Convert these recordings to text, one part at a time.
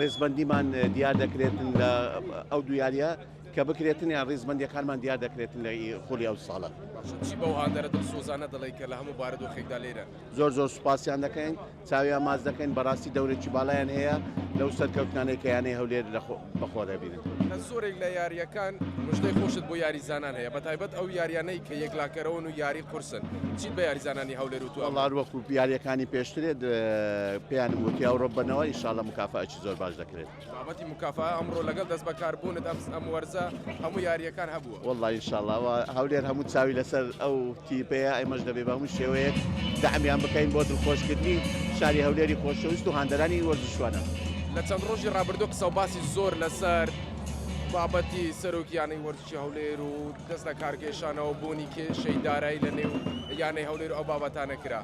ڕیزبەندیمان دیار دەکرێتن لە ئەو دو یاریە کە بکرێتن یان ڕیزبندەکانمان دیار دەکرێتن لە خولی ئەو ساڵە بەو هاندەرە دڵسۆزانە دەڵێ کە لە هەموو بارودۆخێکدا لێرە زۆر زۆر سوپاسیان دەکەین چاویان ماز دەکەین بەڕاستی دەورێکی باڵیان هەیە لەو سەرکەوتانێکیانەی هەولێر لەخۆ بەخوا دەبینن. لە زۆرێک لە یارییەکان مژدەی خۆشت بۆ یاریزانان هەیە بەتایبەت ئەو یاریانەی کە یەکلاکەرەوەن و یاری قورسن چیت بە یاریزانانی هەولێر وتووە؟ وەڵا هەروەکو یارییەکانی پێشترێت پێیانم وتی ئەوڕۆ ببەنەوە ئیشاڵە مکافاتی زۆر باش دەکرێت. بابەتی مکافا ئەمڕۆ لەگەڵ دەستبەکاربوونت ئەم وەرزە هەموو یارییەکان هەبووە. وەڵڵا ان شاء اللە ئەوە هەولێر هەموو چاوی لەسەر ئەو تیپەیە ئێمەش دەبێ بە هەموو شێوەیەک دەعمیان بکەین بۆ دڵخۆشکردنی شاری هەولێری خۆشەویست و هاندەرانی وەرزشوانە. لە چەند ڕۆژی ڕابردوو قسە و باسی زۆر لەسەر بابەتی سەرۆکی یانەی وەرزشی هەولێر و دەست لە کارکێشانەوە بوونی کێشەی دارایی لە نێو یانەی هەولێر و ئەو بابەتانە کرا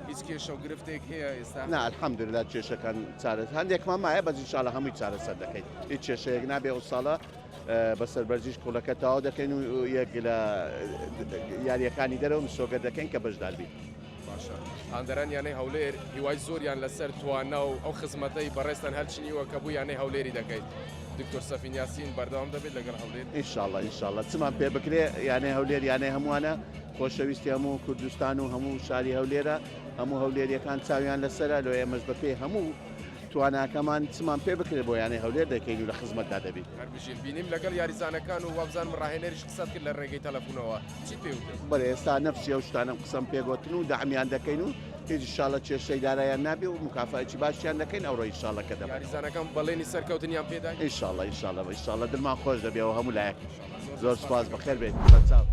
هیچ کێشە و گرفتێک هەیە ئێستا؟ نا الحمدللە کێشەکان چارەسەر هەندێکمان مایە بەس ان شاء اللە هەمووی چارەسەر دەکەین هیچ کێشەیەک نابێ ئەو ساڵە بە سەربەرزیش پوڵەکە تەواو دەکەین و یەک لە یاریەکانی دەرەوە مسۆگە دەکەین کە بەشداربیت. هاندەران یانەی هەولێر هیوای زۆریان لەسەر توانا و ئەو خزمەتەی بەڕێستان هەرچنیوە کە بوو یانەی هەولێری دەکەیت دکتۆر سەفین یاسین بەردەوام دەبێت لەگەڵ هەولێر ئینشاءاللە ئینشاءاللە چمان پێ بکرێ یانەی هەولێر یانەی هەمووانە خۆشەویستی هەموو کوردستان و هەموو شاری هەولێرە هەموو هەولێریەکان چاویان لەسرە لۆ ئێمەش بەپێی هەموو تواناکەمان چمان پێ بکرێت بۆ یانەی هەولێر دەکەین و لە خزمەتدا دەبین. هەر بژین. بینیم لەگەڵ یاریزانەکان و وابزانم ڕاهێنەریش قسەت کرد لە ڕێگەی تەلەفونەوە. چیت پێ وتن؟ بەڵێ ئێستا نەفسی ئەو شتانەم قسەم پێ گۆتن و دەعمیان دەکەین و هیچ ان شاءاللە کێشەی دارایان نابێ و موکافایەکی باشیان دەکەین ئەوڕۆ ان شاءاللە کە دەبەن. یاریزانەکان بەڵێنی سەرکەوتنیان پێ دای؟ ان شاءاللە ان شاءاللە ان شاءاللە دڵمان خۆش دەبێ و هەموو لایەک. زۆر سپاس بەخێر بێیت. بەچاو.